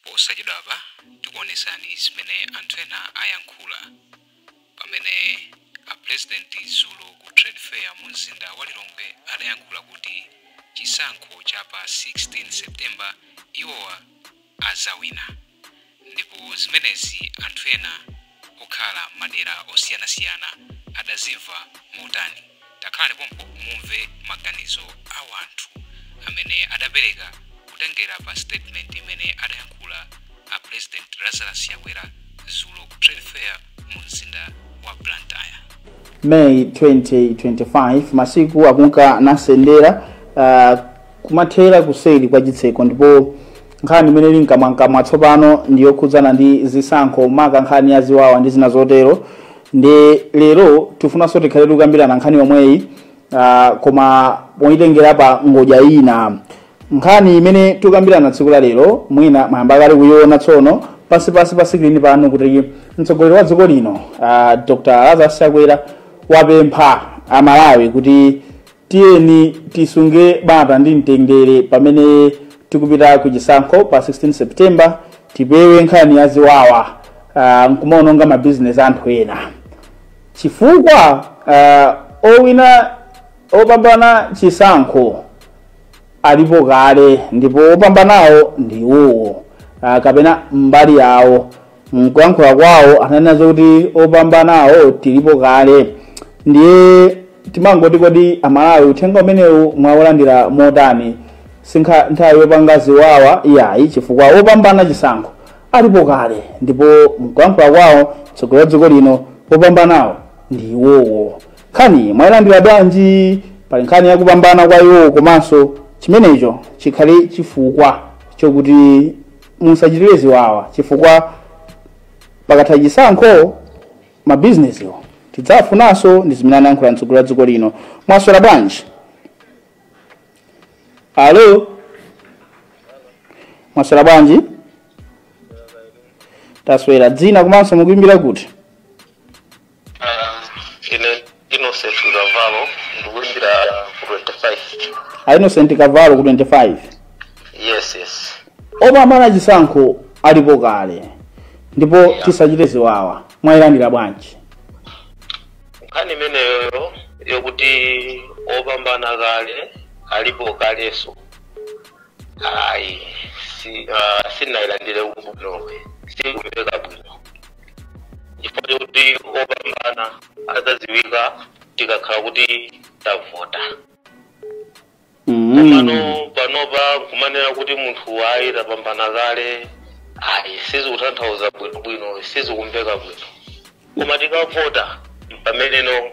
Posachedwapa tikuonetsani zimene anthu ena ayankhula pamene a pulezidenti dzulo ku Trade Fair mu mzinda wa Lilongwe adayankhula kuti chisankho cha pa 16 September iwowa adzawina ndipo zimenezi anthu ena okhala m'madera osiyanasiyana adazimva motani? Takhalani pompo mumve maganizo a wanthu amene adapereka kutengera pa statement imene adayankhula a President Lazarus Chakwera dzulo ku Trade Fair mu mzinda wa Blantyre. May 2025 masiku akunka nasendera uh, kumathera kuseri kwa chitseko ndipo nkhani imene ili mkamwamkamwa tsopano ndi yokhudzana ndi zisankho maka nkhani ya ziwawa ndi zina zotero ndi lero tifunanso tikhale tikukambirana nkhani yomweyi ah, koma poyitengera pa ngodya ina nkhani imene tikukambirana tsiku la lero mwina mwayamba kale kuyiona tsono pansipansi pa screen pano kuti mtsogoleri wa dziko lino ah, dr lazarus chakwera wapempha amalawi kuti tiyeni tisunge bata ndi mtendere pamene tikupita ku chisankho pa 16 september tipewe nkhani ya ziwawa uh, nkumaononga mabizinesi anthu ena chifukwa uh, owina opambana chisankho alipo kale ndipo opambanawo ndi iwowo uh, kapena mbali yawo mkuyankhula kwawo ananena zokuti opambanawo tilipo kale ndiye timangoti kodi amalawi uthenga umenewu mwaulandira motani si nthawi yopanga ziwawa iyayi chifukwa opambana chisankho alipo kale ndipo mkuyankhula kwawo mtsogoleri wa dziko lino opambanawo ndi iwowo nkhani mwayilandira bwanji pali nkhani yakupambana kwa iwowo komanso chimenecho chikhale chifukwa chokuti musachitire ziwawa chifukwa pakatha chisankho mabizinesiwo tidzafunanso ndi zimene anayankhula mtsogoleri wa dziko lino mwaswera bwanji alo mwaswera bwanji taswera dzina komanso mukuimbira kuti ine innocent kavalo ndikuimbira ku 25 a innocent kavalo ku 25 yes yes opambana chisankho alipo kale ndipo tisachite ziwawa mwayilandira bwanji nkhani imeneyoyo yokuti opambana kale alipo kalenso ayi si, uh, sinayilandire bwino sikumveka bwino chifukwa chokuti opambana adzadziwika tikakhala kuti tavota komano panopa kumanena kuti munthu ayi tapambana kale ayi sizikutanthauza bwinobwino sizikumveka bwino koma tikavota pameneno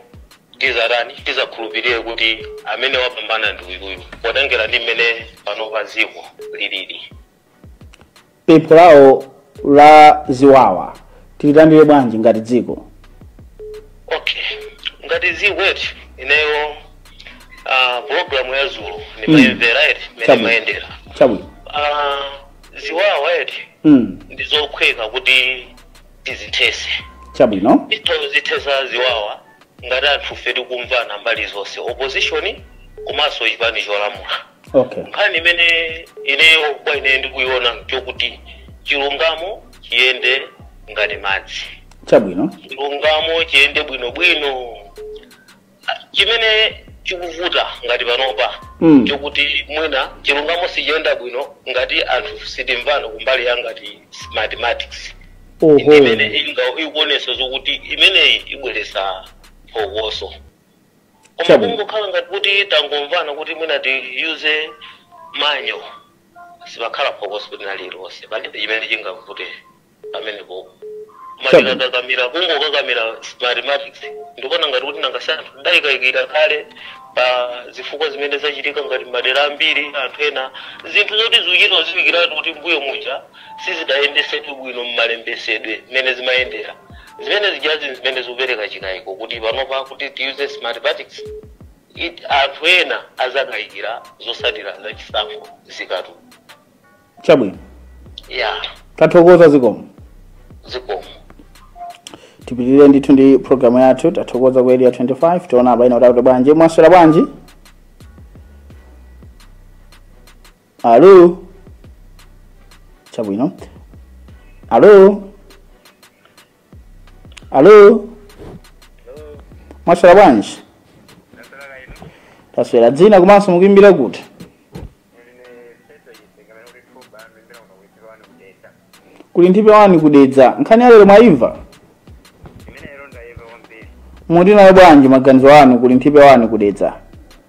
tizatani tizakhulupirire kuti amene wapambana ndi uyuyu potengera ndi mmene panopa dziko lilili pempho lawo la ziwawa tililandire bwanji ngati dziko okay ngati dziko eti ineyo uh, programu ya dzulo ndimayimvera eti mmene Chabwino. imayendera chabwino Ah, ziwawa eti mm. ndi zophweka kuti tizithese chabwino tizithesa ziwawa ngati anthufe tikumvana mbali zonse opposition komanso chipani cholamula okay nkhani imene ineyo kwa ine ndikuiona chokuti chilungamo chiyende ngati madzi chabwino chilungamo chiyende bwinobwino chimene chikuvuta ngati panopa Mm. chokuti mwina chilungamo sichiyenda bwino ngati anthu sitimvana kumbali ya ngati smartmatics oho imene inga- ikuonesa zokuti imeneyi ibweresa phokoso koma Chabwino. kungokhala ngati kuti tangomvana kuti mwina tiyuze manual sipakhala phokoso lina lililonse palibe chimene chingavute pamenepo koma Chabwino. tikakakamira kungokakamira smartmatics ndikuona ngati kuti nanga si anthu adayikayikira kale pa zifukwa zimene zachitika ngati madera ambiri anthu ena zinthu zoti zikuchita kudziwikiratu kuti mbuyo muja sizidayendesedwe bwino mmalembesedwe mmene zimayendera zimene zijazi zimene zikupereka chikayiko kuti panopa kuti tiyuze smartmatics it- anthu ena azakayikira zotsatira za chisankho zikatu chabwino ya tathokoza zikomo zikomo tipitirire ndithu ndi programu yathu tathokoza ku area 25 tiona apa ena kuti akuti bwanji mwaswera bwanji alo chabwino alo alo mwaswera bwanji taswera dzina komanso mukuimbira kuti kuli nthipe wani ku Dedza nkhani ya lero mwaimva muti nayo bwanji maganizo anu kuli nthipe wani ku Dedza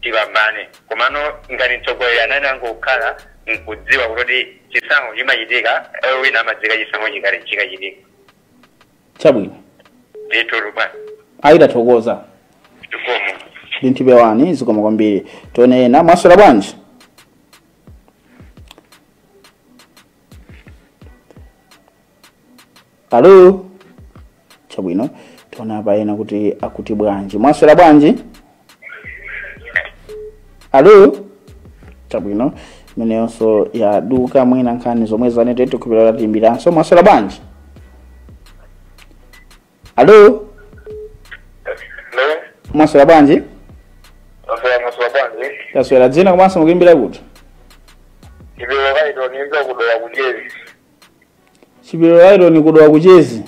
tipambane komano ngati mtsogoleri anani angokhala nkudziwa kuti chisankho chimachitika owina amadziwika chisankho chikale chikachitika chabwino ndithu bwana ayi tathokoza zikomo ndi nthipe wani zikomo kwambiri tione ena mwaswera bwanji alo chabwino tione pena kuti akuti bwanji mwaswera bwanji alo chabwino imeneyonso yaduka mwina nkhani zomwe za network akupita atiimbiranso mwaswera bwanji alo Hello? mwaswera bwanji Mwaswera mwaswera bwanji? taswera dzina komanso mukuimbira kuti Chipiliro Laitoni ndiimba ku Dowa ku Chezi. Chipiliro Laitoni ku Dowa ku Chezi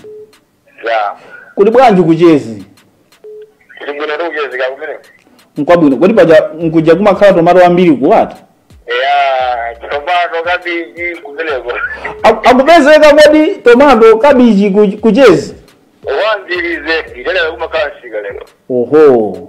ya kuli bwanji ku Chezi kuli bwino kukuchezeka kumene nkwabwino kodi paja nkuja kumakhala tomato ambiri kuwata ya tomato kabichi kumeneko Aku- akupezeka kodi tomato kabichi ku- ku Chezi wanzirize nditelewe kumakhala nsika lero oho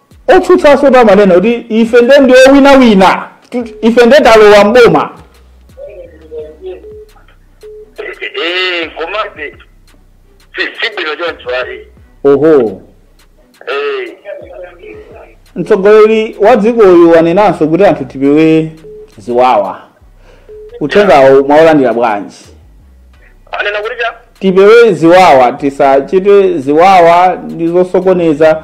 Otsutsanso ena amanena kuti ife nde ndi wowinawina, ife nde talowa m'boma. Eh, komabe si si bwino choncho ali Oho, Eh, mtsogoleri wa dzikoyu wanenanso kuti anthu tipewe ziwawa. Uthengawo mwaulandira bwanji? anena kuti cha tipewe ziwawa tisachite ziwawa ndi zosokoneza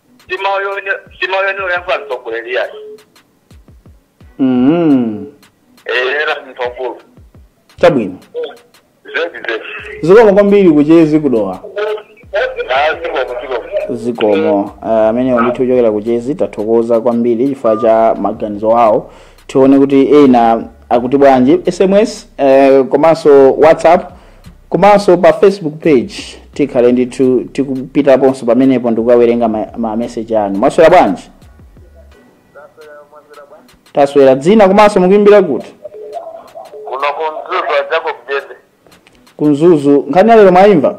si mawu oyenera oyankhula mtsogoleri yayi mm. eyera munthu wamkulu chabwino zedi zedi zikomo kwambiri ku Chezi ku Dowa zikomo zikomo zikomo uh, amenewo ndithu ochokera ku Chezi tathokoza kwambiri chifukwa cha maganizo awo tione kuti ena akuti bwanji sms eh, komanso whatsapp komanso pa facebook page tikhale ndithu tikupitaponso pamenepo ndikukawerenga ma, ma message anu mwaswera bwanji taswera dzina komanso mukuimbira kuti kuno ku Mzuzu a Jacob Jende ku Mzuzu nkhani yalero mwayimva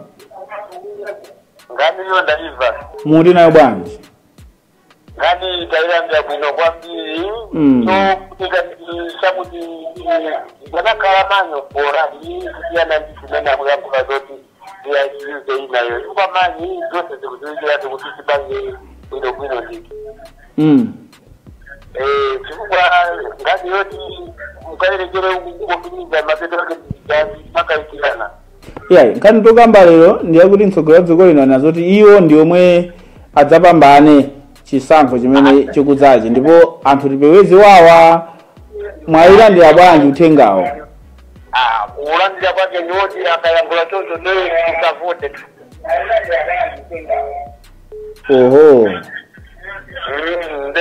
nkhaniyo ndaimva muti nayo bwanji nkhani tailandira bwino kwambiri Mm. chofunika ndi chakuti ndanakhala manyo bora iyi kusiyana ndi zimene akuyankhula zoti iaiuze inayo chifukwa manyi zonse zikuziwikiratu kuti tipange bwinobwino nditi Mm. Eh, chifukwa ngati yoti mukayerekere kukotumiza mapeto ake ndizani makaikirana yeah, nkhani tokamba lero ndi yakuti mtsogoleri wa dziko lino anena zoti iwo ndi omwe adzapambane chisankho chimene chikudzachi ndipo anthu tipewe ziwawa mwayilandira bwanji uthengawo Ah, kuulandira kwake ndi woti akayankhula choncho ndiye tisavotetu oho Mm, nde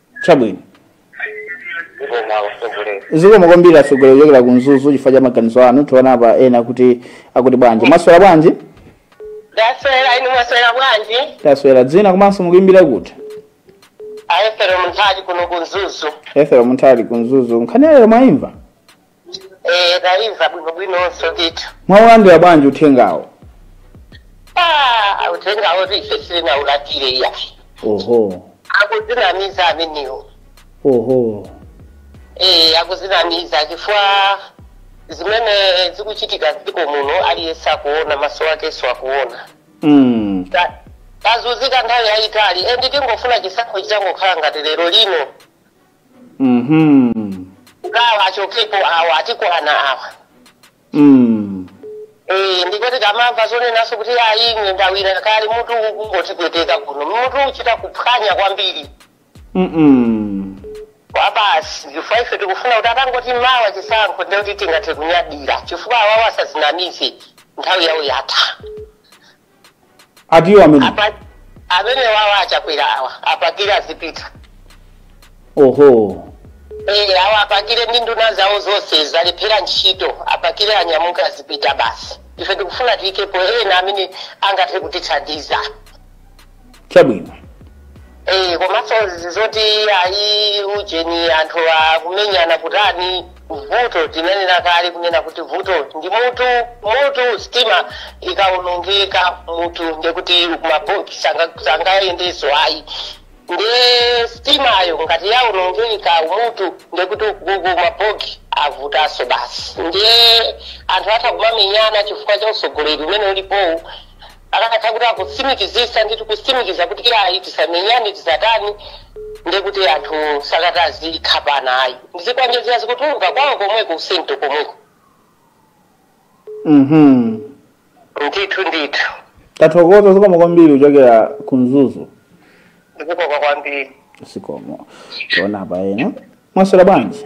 chabwino zikomo akusogolera zikomo kwambiri atsogoleri kuchokera ku mzuzu chifukwa cha maganizo anu tiona apa ena kuti akuti bwanji mwaswera bwanji ndaswera inu mwaswera bwanji taswera dzina komanso mukuimbira kuti ethero munthali kuno ku mzuzu ethero munthali ku mzuzu nkhani ya lero mwaimva Eh, taimva bwinobwinonso ndithu mwaulandira bwanji uthengawo Ah, uthengawo ife sitinaulandire iyayi oho akuzinamiza ameniwo oho Eh, akuzinamiza chifukwa zimene zikuchitika dziko muno aliyense akuona maso akenso akuona mm. Ta- tazunzika nthawi yayitali endi tingofuna chisankho chitangokhala ngati lero lino Mhm. ngawa achokepo awa atikwana awa Mm. Eh, ndipo tikamamva zonenazo kuti ayi ine ndawina kale mutu ukungotipweteka kuno mutu ukuchita kuphwanya kwambiri Mm. basi chifukwa ife tikufuna kuti atangoti mawa chisankho ndiye kuti tingathe kunyadira chifukwa awawa asazinamize nthawi yawo yatha atiwo amenewa amene wawa achakwera awa apakire azipita oho Eh, awa apakire ndi nduna zawo zonse zalephera ntchito apakire anyamuka azipita basi ife tikufuna tiyikepo ena amene angathe kutithandiza chabwino Eh, komanso izi zoti ayi ujeni anthu akumenyana kutani vuto tinanena kale kunena kuti vuto ndi mutu mutu sitima ikawonongeka mutu ndekuti kumabogi sangayendeso ayi nde sitimayo ngati yawonongeka umutu ndekuti kumabogi avutaso basi ndiye anthu atha kumamenyana chifukwa cha usogoleri umene ulipowu akanakhala kuti akutsimikizisa ndithu kutsimikiza kuti iyayi tisamenyane tisatani ndekuti anthu sakadati azikhapana ayi ndi zikwanjezi zikutuluka kwawo komweko usento komweko mhm ndithu ndithu tathokoza zikomo kwambiri kuchokera ku mzuzu zikomo kwambiri zikomo tiona apa ena mwaswera bwanji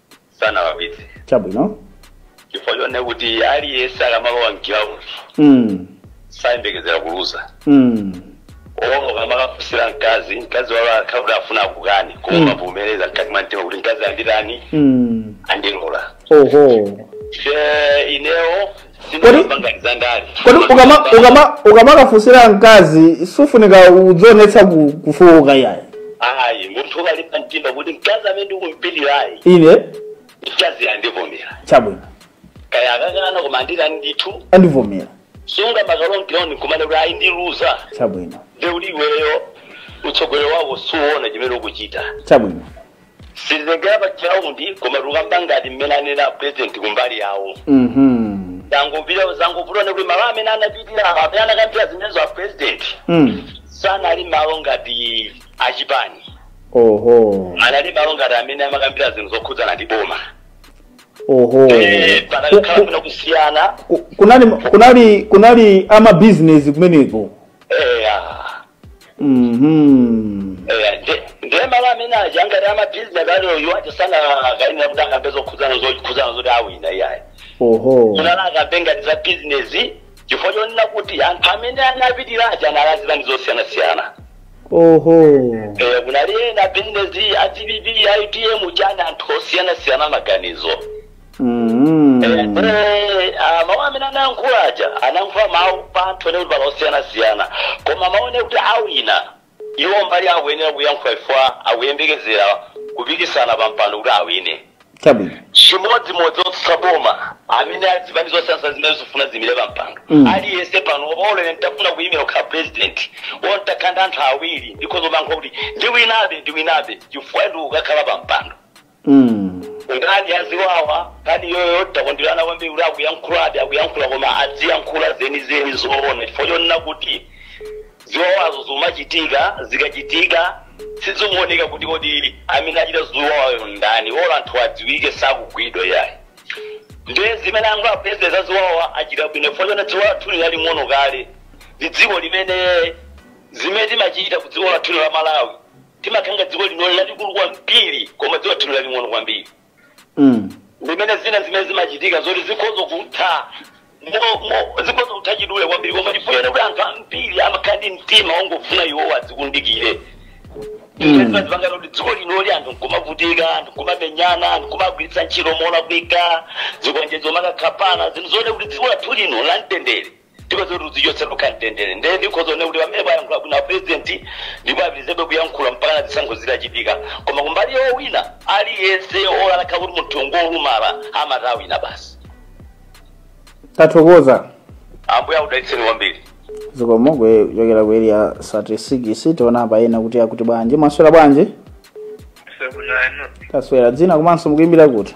sanalakwitse chabwino chifukwa chonena kuti aliyense akamalowa mgiraundi mm. sayembekezera kuluza Mm. olo ukamakafunsira mkazi mkazi olo atakhala kuti afuna akukani Mm. koma umavomereza mkati mwa mtima kuti mkazi anditani Mm. andilola oho inewo sinapangani za ndale kodi ukama- ukama- ukamakafunsira mkazi sufunika kudzionetsa ku- kufowoka yayi ayi munthu ukalimba mtima kuti mkazi amene ndikumpilirayi ine mkazi andivomera chabwino kaya akakana koma andikani ndithu andivomera sungamakalowe ndi nkumanena kuti ayi ndiluza chabwino nde uli iweyo utsogoleri wawo suona chimene ukuchita chabwino sitikutengera pa ground koma tikukamba ngati mmene anena president kumbali yawo Mhm. zangopita zangovuta kuti malo amene anapitira amene anakambira zimenezo a president Mm. sanali malo ngati achipani Oho. anali malo ngati amene amakambira zinthu zokhudzana ndi boma Oho. Eh, Ku- panakhala ku- kuna kusiyana ku- Kunali kunali kunali ama business kumeneko. eya Mhm. eya nde- nde malo amene aja ngati amabhizinesi aliwo iwo aja sanakayenera kuti akambe zokhudzana zokhudzana zoti awina iyayi Oho. kunala akambe ngati za bizinesi chifukwa chonena kuti anthu amene anapitira aja anali a zipani zosiyanasiyana Oho. Eh, kunali ena bizinesi a dpp a utm chani anthu osiyanasiyana maganizo Mhm. Eh, ah, mawu amene anayankhula aja anayankhula mawu pa anthu onena kuti pali osiyanasiyana koma maone kuti awina iwo mbali akuyenera kuyankhula chifukwa akuyembekezera kupikisana pa mpando kuti awine chabwino chimodzimodzi otsutsa boma amene azipani zosiyanasiyana zimene zifuna ziyimire pa mpando Mm. aliyense pano olo ine ntafuna kuyimira kukhala president olo ntakhala ndi anthu awiri ndikhoza kumayankhula kuti ndiwinabe ndiwinabe chifukwa choti ukakhala pa mpando Mm. nkhani ya ziwawa nkhani iyoyo takondwera nayo kwambiri kuti akuyankhuladi akuyankhula koma adziyankhula zenizeni zoona chifukwa chonena kuti ziwawazo zimachitika zikachitika sizikuoneka kuti kodi amene achita ziwawayo ndani olo anthu adziwike sakugwidwa yayi nde zimene akamba apurezidenti za ziwawa achita bwino chifukwa chonena dziko lathuli laling'ono kale ndi dziko limene zimene timachita ku dziko lathuli la malawi timakhala ngati dziko linoli lalikulu kwambiri koma dziko lathu laling'ono kwambiri Mm. limene zina zimene zimachitika zoti zikhoza kutha mo- mo- zikhoza kutha chidule kwambiri koma chifukwa kuti anthu ambiri amakhala ndi mtima wongofuna iwowo adzikundikire Mm. zimapangitsa kuti dziko linoli anthu nkumavutika anthu nkumamenyana anthu nkumagwiritsa ntchito molakwika zikwanjezo kumakakhapana zinthu zonena kuti dziko lathu lino la mtendere ndipo zoti tidzichotse tikhale ndi mtendere nde ndikhoza kunena kuti pamenepo ayankhula bwino apurezidenti ndipo apitirizebe kuyankhula mpaka na zisankho zitachitika koma kumbali yowina aliyense olo atakhala kuti munthu ngolumala amati awina basi tathokoza ambuye akudalitseni kwambiri zikomo kuchokera ku area 36 tiona apa ena kuti akuti bwanji mwaswera bwanji Sabulano, taswera dzina komanso mukuimbira kuti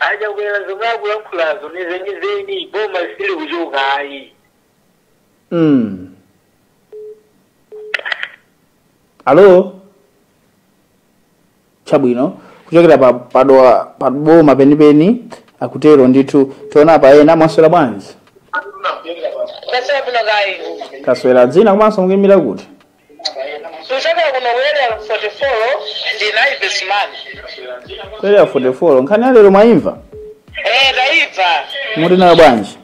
A Chakwera zomwe akulankhulazo ni zenizeni boma lisili kuchoka ayi. Mm. Alo? Chabwino. Kuchokera pa padola pa boma penipeni akutero ndithu tiona pa ena mwaswera bwanji? Taswera bwino kaya. Taswera dzina komanso mukuyimbira kuti? tikuchokera kuno ku area 44 ndine ives man ku area 44 nkhani ya lero mwayimva eh ndayimva muli nayo bwanji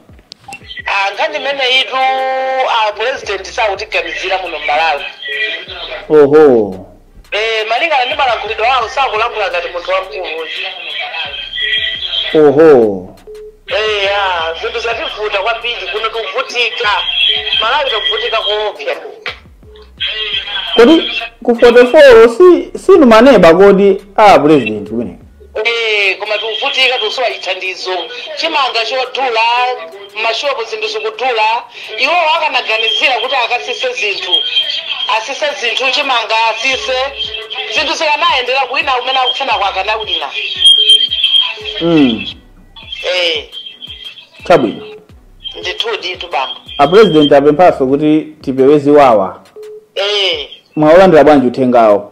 Ah, nkhani imeneyitu a president sakutiganizira muno mmalawi oho eh malingana ndi malankhulidwe awo sakulankhula ngati munthu wamkulu oho Eya, zinthu zativuta kwambiri kuno tikuvutika. Malawi tikuvutika koopsa. kodi ku 44 sinu maneba kodi a president kumeneko Eh, koma tikuvutika tikusowa chithandizo. Chimanga chodula, mashopu zinthu zikudula, iwowo akanaganizira kuti akasise zinthu asise zinthu chimanga asise zinthu zikanayendera kuwina kumene akufunako akanawina mm. eh chabwino ndithudi tu bambo apurezidenti apemphanso kuti tipewe ziwawa eh mwaolandira bwanji uthengawo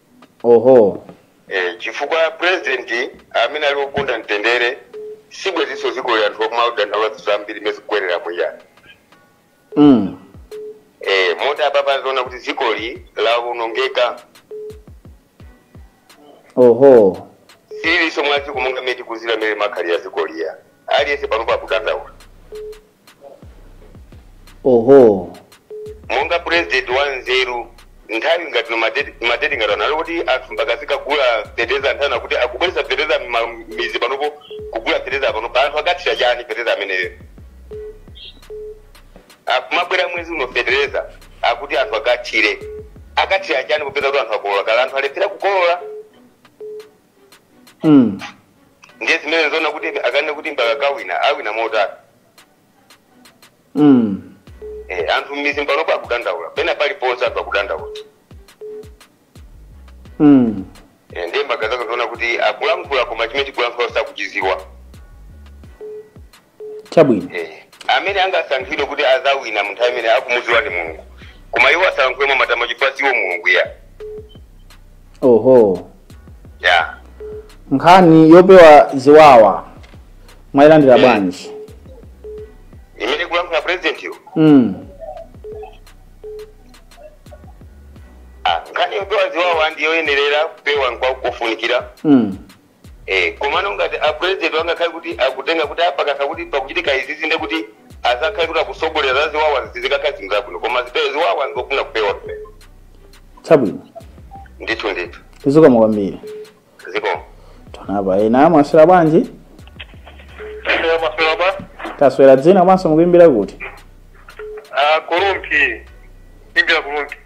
oho Eh, chifukwa president amene ali okonda mtendere sibweziso zikoli anthu akumadandaula zambiri mmene zikukwerera muja mm. eh, moti apapa aziona kuti zikoli lawonongeka oho siliso mwa ziko monga mmene tikuziwira mmene limakhalira zikoli ya aliyense panopa akudandaula oho monga president wa nzeru nthawi ngati no madeti ngati ano nkuti anthu mbakazika kagula fertilizer nthawi ano nkuti akubweresa fertilizer m'mizi panopo kugula fertilizer panopo anthu akathira chani fertilizer ameneyo akumabwera mwezi uno fertilizer akuti anthu akathire akathira chani popeza kuti anthu akolola kale anthu alephera kukolola Mm. ndiye zimenezo nzoona kuti akanene kuti mbaka kawina awina motani Mm. Eh, anthu mmizi panopo akudandaula pena paliponse anthu akudandaula Mm. Eh, ndiye mbakazika ziona kuti akulankhula koma chimene akulankhula sakuchiziwa chabwino Eh, amene angasankhidwe kuti azawina munthu amene akumudziwa ndi mulungu koma iwo asalankhule mwa matama chifukwa siwo mulungu ya oho ya nkhani yopewa ziwawa mwayilandira Mm. bwanji imene akulankhula president yo mm. Ah, nkhani yopewa ziwawa ndiyoyenerera kupewa nkwakufunikira mm. Eh, komano ngati a president angakhale kuti akutenga kuti apa pakakhala kuti pakuchitika izizi nde kuti azakhale kuti akusogolera za ziwawa sizikakhala zinthu zabwino koma tipewe ziwawa nzofuna kupewa kupewa chabwino ndithu ndithu zikomo kwambiri zikomo tionepo ena mwaswera bwanji mwaswera bwa taswera dzina komanso mukuimbira kuti aku Lumpi ndikuimbira ku Lumpi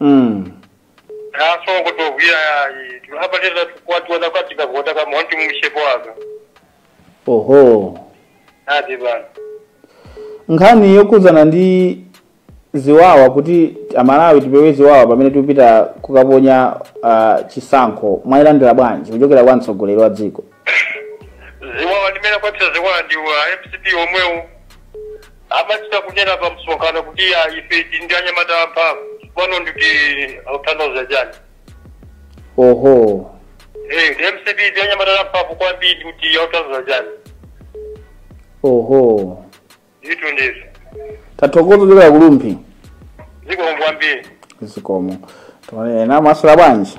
mm. aso kuti ogwira yayi timabateza tikwationa kwati kagota kamwa ndi mumshepo waka oho ati bana nkhani yokhudzana ndi ziwawa kuti amalawi tipewe ziwawa pamene tikupita kukaponya eh, chisankho mwayilandira bwanji kuchokera kwa mtsogoleri wa dziko ziwawa ndimene kwapita ziwawa ndi a mcp omwewo amachita kunena pa msonkhano kuti "Ah, ife tili ndi anyamata amphamvu pano ndiye kuti akutanthauza chani oho Eh, ndi mcp ndi anyamata amphamvu kwambiri ndiye kuti akutanthauza chani oho zitu ndizo tathokoza kuchokera ku Lumpi zikomo kwambiri zikomo tione ena mwaswera bwanji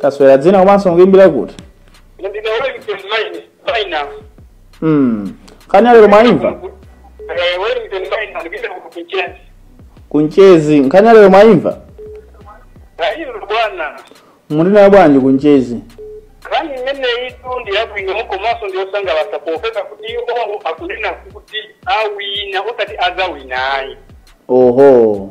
taswera dzina komanso mukuimbira kuti mm. nkhani yalero mwaimva ku Ntchisi nkhani yalero mwaimva bwana mulinayo bwanji ku Ntchisi nkhani imeneyitu ndi yabwino komanso ndi yosangalatsa popeza kuti iwo akunena kuti awina osati azawina ayi oho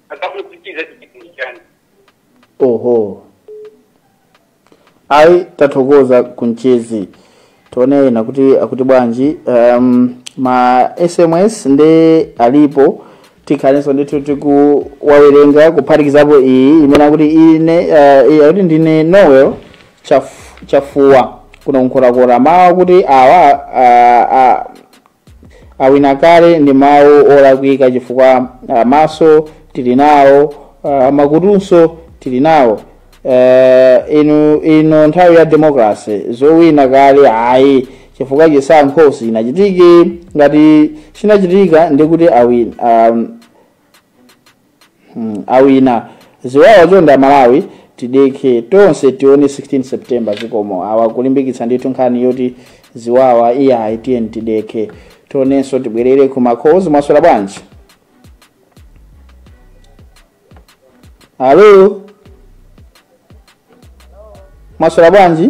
akumachititsa chipingi chani oho ayi tathokoza ku Ntchisi tione ena kuti akuti bwanji um, ma sms nde alipo tikhalenso ndithu tikuwawerenga kuphatikizapo iyi imene akuti ine uh, iyi akuti ndine noel Chaf- chafuwa kuno Nkhotakota mawu akuti awa uh, uh, awina kale ndi mawu olakwika chifukwa ah, maso tili nawo ah, makutunso tili nawo Eh, inu ino nthawi ya democracy zowina kale ayi chifukwa chisankho sinachitike ngati chinachitika ndikuti awina um, Hmm, awina ziwawa chonde amalawi tidekhe tonse tione 16 september zikomo awa kulimbikitsa ndithu nkhani yoti ziwawa iyayi tiyeni tidekhe tionenso tibwerere kuma calls mwaswera bwanji alo mwaswera bwanji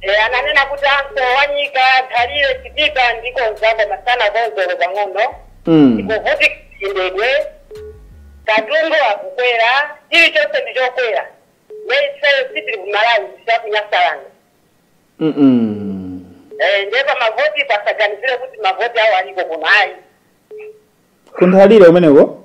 E, ananena kuti msewu wa nyika nthalire chitipa ndikonza koma sanakonze olo pang'ono Mm. tikuvutika chiyendedwe katundu akukwera chilichonse ndi chokwera nde ifeyo sitili ku malawi ndisiya ku nyasaland Mm -mm. Eh, nde pa mavoti pasaganizire kuti mavoti awo aliko kuno ayi Kunthalire kumeneko?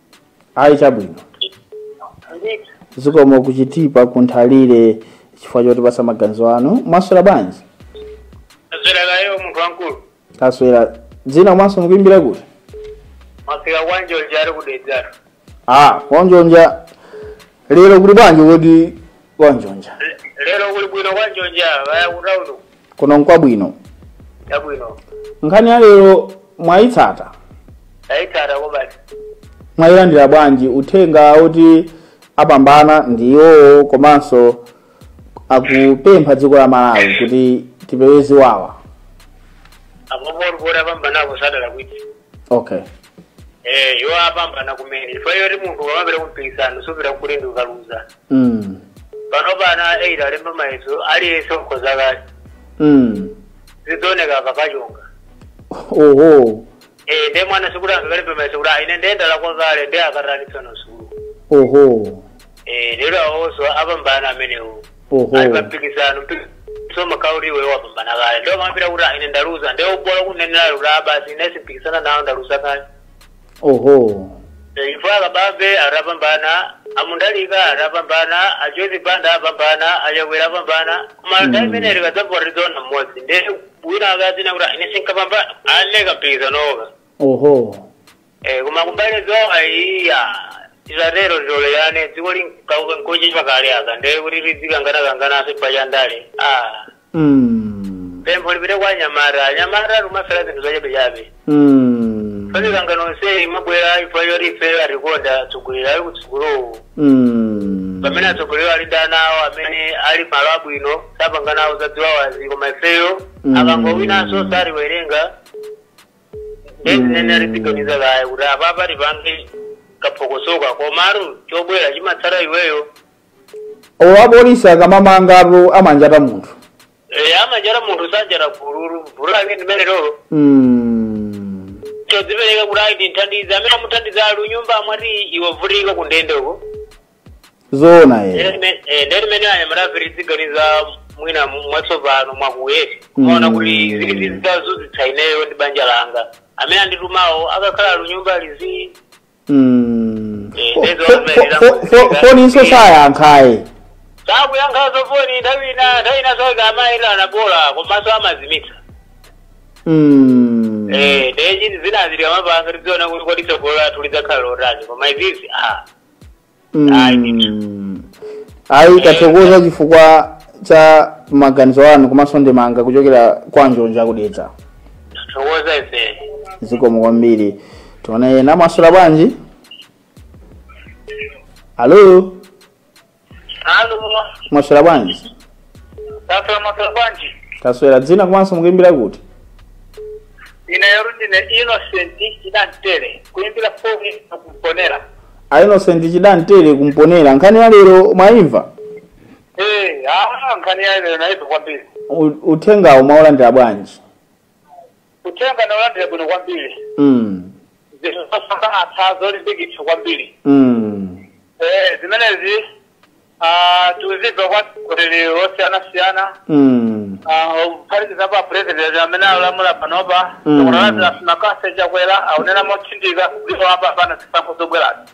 ayi chabwino ndithu zikomo kuchitipa kunthalire chifukwa chotipatsa maganizo anu mwaswera bwanji taswera kayo munthu wamkulu taswera dzina komanso mukuimbira kuti masika kwanjonja ali kudedzatu ah kwanjonja lero kuli bwanji kodi kwanjonja lero kuli bwino kwanjonja kaya kutauni uku kuno nkwabwino chabwino nkhani ya lero mwayitsata tayitsata kwabasi mwayilandira bwanji uthenga oti apambana ndi iwowo komanso akupempha dziko la malawi kuti tipewe ziwawa apopo kuti apambanapo sadalakwitse okay eh iwo apambana kumene chifukwa yoti munthu ukamapita kumpikisano supita kuti ine ndikaluza mm. pano pana eyiti alemba mayeso aliyense wakhoza kale Mm. zidzaoneka akakachonga oho eh nde mwana sikuti angakalembe mayeso kuti ah ine nde ndalakwa kale nde akataninso ku sukulu oho eh lero awonso apambana amenewo Oho. ali pa mpikisano mpikisano umakhala kuti iwe wapambana kale nde omapita kuti "Ah, ine ndaluza nde bola kunenera kuti "Ah, basi ine sindipikisana nawo ndaluza kale Oho. chifukwa a kabambe atapambana a mutharika atapambana a joyce banda apambana achakwera apambana koma Mm. nthawi imene tikadzavota tidzaona mmodzi nde wina akazinena kuti "Ah, ine sinkapambana aleka mpikisanowoka Oho. Eh, koma kumbali ya ziwawa iyayi tisatero titolerane dziko linkauka nkoche pakale aka ndeye kuti tidzikangana-kangananso pa chandale ah Mm. pempho lipite kwa anyamata anyamata tikumafera zinthu zachabechabe Mm. pamikangano yonse imabwera chifukwa yoti ife atikonda atsogoleri ali kutsogolowo Mm. pamene atsogoleri ali ndi ana awo amene ali malo abwino sapanganawo zaziwawazi koma ifeyo Mm. akangowinanso satiwerenga nde zimene aripitoniza kaye kuti apapa tipange kaphokosoka komatu chobwera chimatsata iweyo olo apolisi akamamangatu amanjata munthu Eh, amanjata munthu sanjata gululu gululu ake ndimene lolo Mm. chodzipereka kuti ayi ndithandiza amene amuthandiza ali kunyumba amwa tiyi iwe ukuvutika kundende uko zoona eh. nde ife anyamatafe tiziganiza mwina mwatsopano mwakuti kumaona kuti Mm. zili zitazunzitsa ineyo ndi banja langa amene anditumawo akakhala kunyumba lizi Mm. Eh, Fo- ndizo fo- zimene fo- fo- zakutika. foninso sayankhaye sakuyankha zofoni nthawi ina nthawi ina network amayenda anabola komanso amazimitsa Mm. eh nde zinthu zinazi tikamapanga tidziona kuti kodi tsogolo lathu lidzakhala lotani koma izizi ah Mm. ayi tathokoza chifukwa cha maganizo anu komanso ndemanga kuchokera kwa njonja ku Dedza tathokoza ife zikomo kwambiri tione ena mwaswera bwanji alo Halo, mwaswera bwanji tafika mwaswera bwanji. taswera dzina komanso mukuimbira kuti Ineyo ndine Innocent Chidantele, kuimbira foni ino ku Mponela. a innocent chidantele ku Mponela nkhani ya lero mwaimva Eh, ah, nkhani ya lero naimva kwambiri. U- uthengawo mwaulandira bwanji Uthenga ndaulandira bwino kwambiri. Mm. Zinthu zosangalatsa zolimbikitsa kwambiri. Mm. Eh, zimenezi ah, tikuzimva kwa atsogoleri osiyanasiyana Mm. kuphatikizapo apurezidenti amene akulamula panopa Mm. Dr Lazarus McCarthy Chakwera akunena motsindika kuti apapa pa zisankho zobwerazi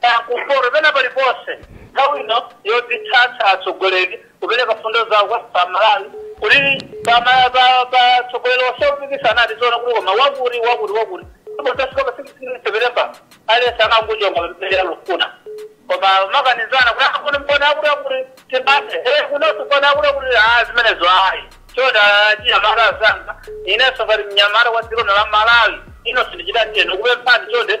Kaya kumpoto pena paliponse nthawi ino yodzitsatsa atsogoleri kupereka fundo zawo kwa aMalawi kuti pa ma- pa- pa atsogoleri onse opikisana adziona kuti koma wakuti wakuti wakuti tikafika pa sikisini sepetemba aliyense amangochonga amene akufuna koma kumakanizana kuti akuti ndikaona akuti akuti tiphe eh kunonso ndikaona akuti akuti ah zimenezo ayi chonde anyamata azanga inenso ngati mnyamata wa dziko la Malawi ino sindichita ndikukupemphani chonde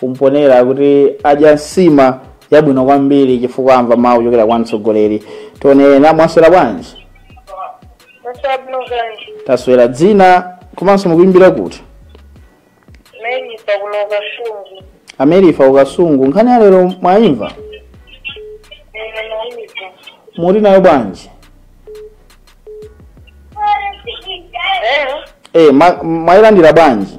ku Mponela kuti adya nsima yabwino kwambiri chifukwa amva mawu kuchokera kwa mtsogoleri tione ena mwaswera bwanji Mwaswera bwanji. taswera dzina komanso mukuimbira kuti Meni pa ku Kasungu. amerifa ku Kasungu nkhani ya lero mwayimva Eya naimva. muti nayo bwanji Eh? e, ma, mwayilandira bwanji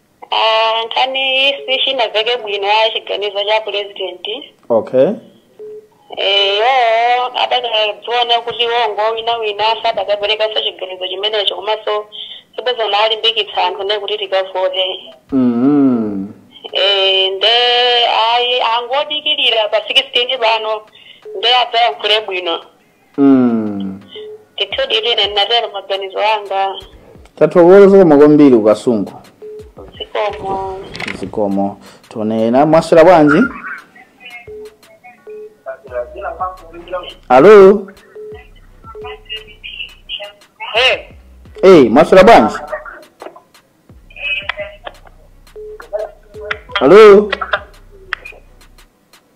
Ah, nkhani isi chinamveka bwino ayi chiganizo cha pulezidenti okay eyo adakadziona kuti wrong wina wina sadakaperekanso chiganizo chimenecho komanso sibwenzi akulimbikitsa anthufe kuti tikavote mm. Eh, nde ayi angodikirira pa 16 pano nde adzayankhule bwino Mm. ndithudi ine ndinatero maganizo anga tathokoza zikomo kwambiri ku Kasungu zikomo zikomo tione ena mwaswera bwanji alo Eh, eyi mwaswera bwanji alo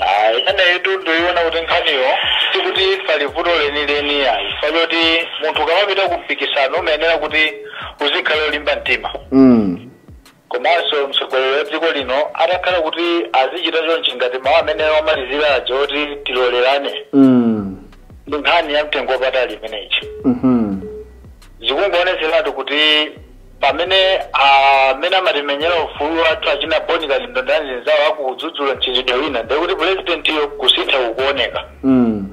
Ah, ineyotu ndayiona kuti nkhaniyo sikuti pali vuto lenileni ayi chifukwa choti munthu ukamapita ku mpikisano umayenera kuti uzikhala olimba mtima mm. komanso mtsogoleri wa dziko lino atakhala kuti azichita chonchi ngati mawu amene wamalizira aja oti tilolerane Mm. ndi nkhani ya mtengo wapatali imeneyi Mhm. zikungoonetseratu kuti pamene amene amatimenyera ufulu wathu achina boni kalindo ndi anzawo akudzudzula mchitidwe wina ndiye kuti pulezidentiyo kusintha kukuoneka Mm.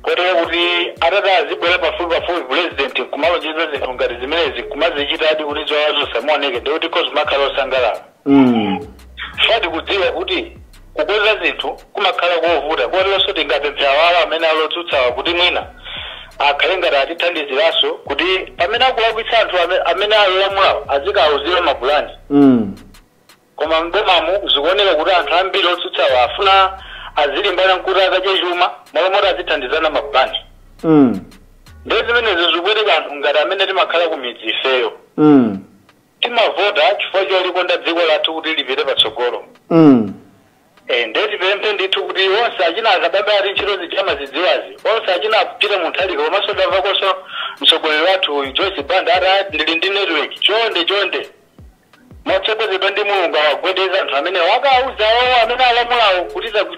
kotero kuti atati azibwera pafupi pafupi pulezidenti kumalonjeza zinthu ngati zimenezi kumazichitadi kuti zoonazo zimaoneka ndiye kuti kozi kumakhala osangalala Mm. chifukwa tikudziwa kuti kukonza zinthu kumakhala kovuta koteronso tingapemphe awawa amene alotsutsawa kuti mwina akhale ngati atithandiziranso kuti pamene akulakwitsa anthu ame- amene alolamulawo azikawuzira mapulani Mm. koma mdomamu zikuoneka kuti anthu ambiri otsutsawa afuna azilimbana nkuti akadye chuma malo moti azithandizana mapulani Mm. ndiye zimenezi zikupweteka anthu ngati amene timakhala ku midzi ifeyo Mm. timavota chifukwa cholikonda dziko lathu kuti lipite patsogolo mm. Eh, nde tipemphe ndithu kuti onse achina a Kabambe ati ntchito zija amazidziwazi onse achina a Peter Mutharika komanso ndamvakonso mtsogoleri wathu Joyce Banda ati "Ah, ndili ndi network chonde chonde motsogozedwa ndi mulungu awagwedeze anthu amene wakauza owo amene alamulawo kuti zaku-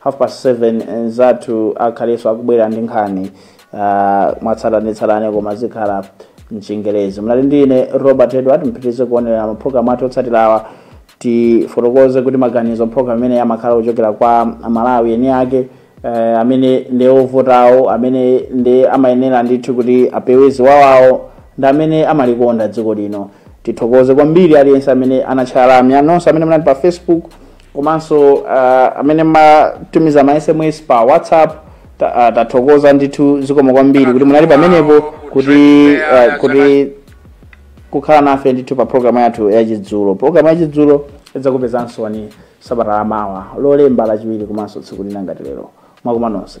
half past 7 nzathu akhalenso akubwera ndi nkhani ah, mwatsatanetsatane koma zikhala mchingerezi mnali ndi ine robert edward mpitirize kuonera mapulogalamu athu otsatirawa tifotokoze kuti maganizo mpulogalamu imeneyi amakhala kuchokera kwa amalawi eni ake eh, amene ndi ovotawo amene ndi amayenera ndithu kuti apewe ziwawawo ndi amene amalikonda dziko lino tithokoze kwambiri aliyense amene anatchala lamya nonse amene munali pa facebook komanso uh, amene mmatumiza ma sms pa whatsapp ta- ah, tathokoza ndithu zikomo kwambiri kuti munali pamenepo kuti uh, kuti kukhala nafe ndithu pa programu yathu yachidzulo programu yachidzulo idzakupezansoni sabata lamawa lolemba lachiwiri komanso tsiku lina ngati lero mwakoma nonse